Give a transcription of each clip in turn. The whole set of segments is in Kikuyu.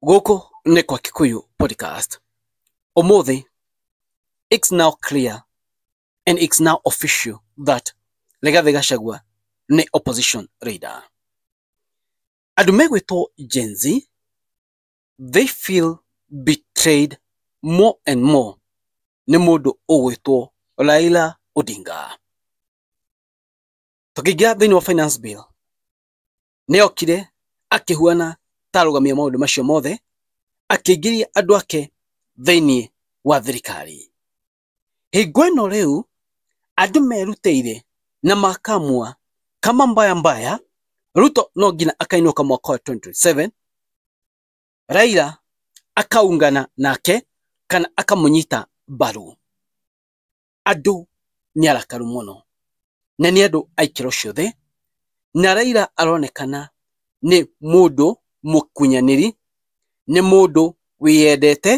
Gũkũ nĩ kwa Kikuyu Podcast. Ũmũthĩ, it's now clear and it's now official that Rigathi Gachagua nĩ opposition leader. Andũ megwĩtwo Gen Z, they feel betrayed more and more nĩ mũndũ ũgwĩtwo Raila Odinga. Tũkĩingĩra thĩinĩ wa finance bill, nĩokire akĩhuana ta arũgamia maũndũ macio mothe, akĩingĩria andũ ake thĩinĩ wa thirikari. Hingo ĩno rĩu andũ merutĩire na makamua kama mbaya mbaya, Ruto no nginya akainũka mwaka wa 2027, Raila akaungana nake kana akamũnyita mbaru. andũ nĩ arakaru mũno na nĩ andũ a ikĩro ciothe, na Raila aronekana nĩ mũndũ mũkunyanĩri, nĩ mũndũ wĩyendete,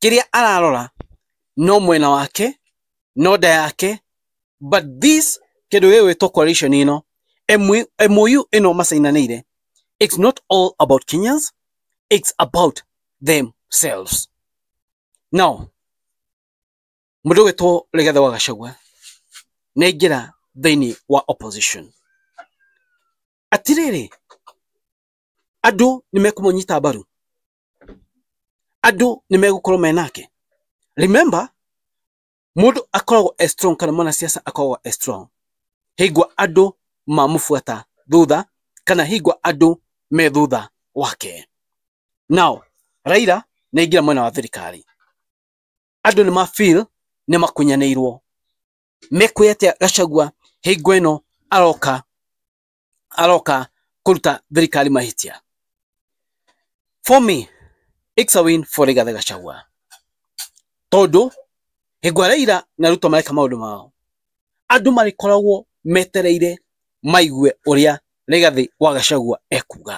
kĩrĩa ararora no mwena wake, no nda yake, but this kĩndũ gĩgwĩtwo coalition ĩno, MOU ĩno macainanĩire, it's not all about Kenyans, it's about themselves. Now, Mũndũ ũgwĩtwo Rigathĩ wa Gachagua nĩ aingĩra thĩinĩ wa opposition. Atĩrĩrĩ, andũ nĩ mekũmũnyita mbaru? Andũ nĩ megũkorwo me nake? Remember, mũndũ akoragwo e strong kana mwanasiasa akoragwo e strong hĩngwa andũ mamũbuata thutha kana hĩngwa andũ me thutha wake. Now, Raila nĩ aingĩra mwena wa thirikari. andũ nĩ ma feel nĩ makunyanĩirwo mekwĩra atĩa gacagua hingo ĩno aroka aroka kũruta thirikari mahĩtia for me it's a win for Rigathi Gachagua tondũ hingo Raila na Ruto mareka maũndũ mao andũ marĩkoragwo metereire maigue ũrĩa Rigathi wa Gachagua ekuga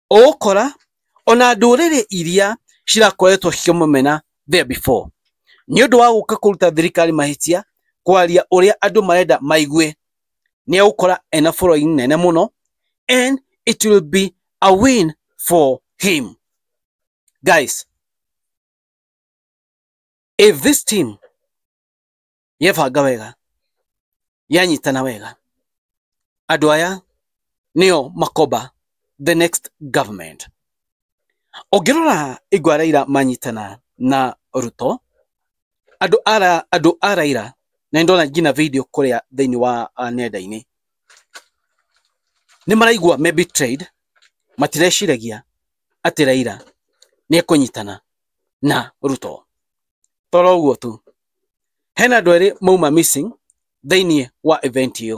ũgũkora ona ndũrĩrĩ iria cirakoretwo cikĩmũmena there before nĩ ũndũ wa gũka kũruta thirikari mahĩtia kwaria ũrĩa andũ marenda maigue nĩ egũkora ena following nene mũno and it will be a win for him guys if this team yebanga wega yanyitana wega andå aya nĩo makomba the next government ũngĩrora igwa raira manyitana na ruto andũ ara andũ a raira na ndona nginya video kũrĩa thĩinĩ wa uh, nenda-inĩ nĩ maraigua me betrayed matireciragia atĩ raira nĩ ekũnyitana na ruto toro ũguo tu hena andũ erĩ mauma missing thĩinĩ wa event ĩyo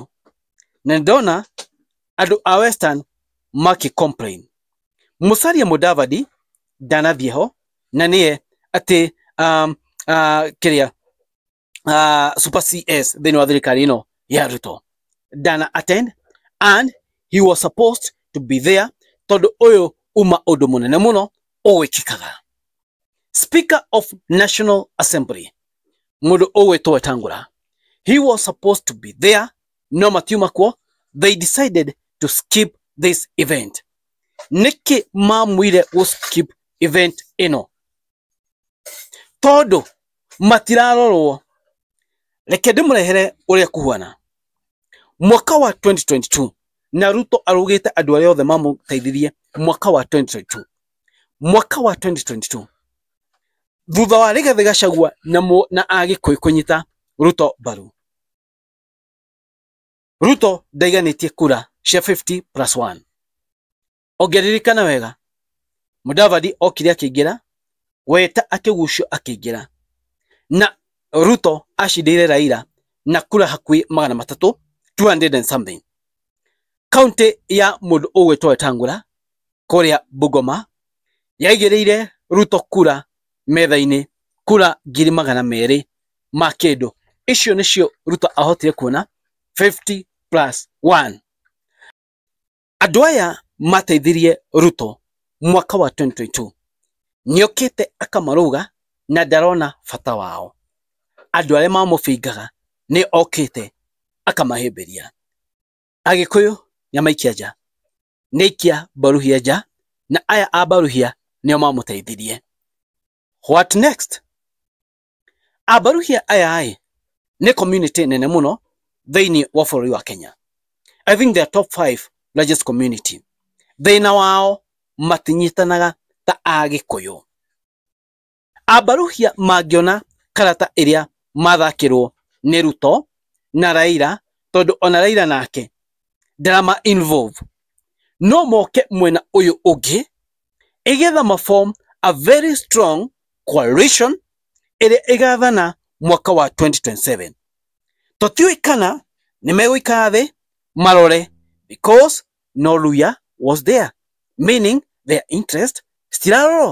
na ndona andũ a western makĩ complain musalia mudavadi ndanathiĩ ho na nĩye atĩ um, uh, kĩrĩa uh, super cs thĩinĩ wa thirikari ĩno ya ruto ndana attend and he was supposed to be there tondũ ũyũ uma ũndũ mũnene mũno ũgwĩkĩkaga speaker of national assembly mundu ugwitwo wetangura he was supposed to be there no matiuma kuo they decided to skip this event niki mamwire gu skip event ino tondu matirarorwo reke ndimũrehere ũrĩa kuhuana mwaka wa 2022 na ruto arugĩte andũ arĩa othe mamũteithirie mwaka wa 2022 mwaka wa 2022 thutha wa Rigathi Gachagua na mũ- na Agĩkũyũ kũnyita Ruto mbaru. Ruto ndaiganĩtie kura cia 50 plus 1. Ũngĩririkana wega, Mudavadi okire akĩingĩra, Weta akĩgucio akĩingĩra, na Ruto acindĩire Raila na kura hakuhĩ magana matatũ 200 and something. Kaunti ya mũndũ ũgwĩtwo Wetangula kũrĩa Bungoma yaigĩrĩire Ruto kura metha-inĩ, kura ngiri magana merĩ ma kĩndũ. Icio nĩcio Ruto ahotire kuona fifty plus one. Andũ aya mateithirie Ruto mwaka wa twenty twenty two, nĩokĩte akamarũga na ndarona bata wao. Andũ arĩa mamũbingaga nĩ okĩte akamahĩmbĩria. Agĩkũyũ nĩamaikia nja. nĩaikia Mbaruhia nja na aya a Mbaruhia nĩo mamũteithirie. What next? A Mbaruhia aya-ĩ nĩ community nene mũno thĩinĩ wa bũrũri wa Kenya. I think they are top five largest community. Thĩna wao matinyitanaga ta Agĩkũyũ. Ambaruhia mangĩona karata ĩrĩa mathakĩrwo nĩ Ruto na Raila tondũ ona Raila nake ndarama involve. No moke mwena ũyũ ũngĩ ĩgetha ma form a very strong coalition ĩrĩa ĩgathana mwaka wa 2027. Tũtiũĩ kana nĩ megũikara thĩ marore because no Luhya was there meaning their interest citirarorwo.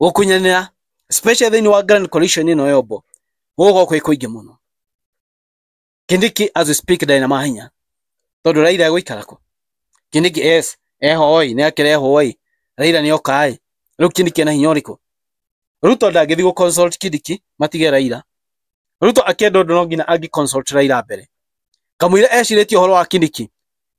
gũkunyanĩra special thĩinĩ wa grand coalition ĩno yombo gũgũkorwo kwĩ kũingĩ mũno kindiki as we speak ndarĩ na mahinya tondũ raira egũikara kũ kindiki yes eho oi nĩ akĩrehwo oi raira nĩ oka ĩ rĩu kindiki ena hinya ũrĩkũ ruto ndangĩthi gũ consult kindiki matige raira ruto akĩenda ũndũ no nginya angĩ consult raira mbere kamũira ecirĩtie ũhoro wa kindiki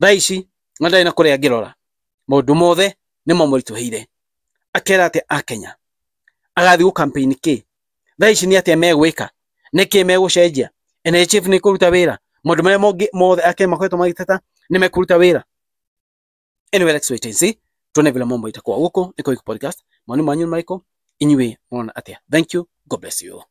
thaa ici na ndarĩ na kũrĩa angĩrora maũndũ mothe nĩ mamũritũhĩire akera atĩ akenya agathiĩ gũ campaign kĩ thaa ici nĩ atĩa megwĩka nĩ kĩ megũcenjia NHF nĩ kũruta wĩra maũndũ marĩa mongĩ mothe akenya makoretwo magĩteta nĩ mekũruta wĩra anyway let's wait and see tuone vile mambo itakuwa huko niko Iko podcast maoni manyu nĩ marĩkũ inyuĩ mona atĩa thank you god bless you all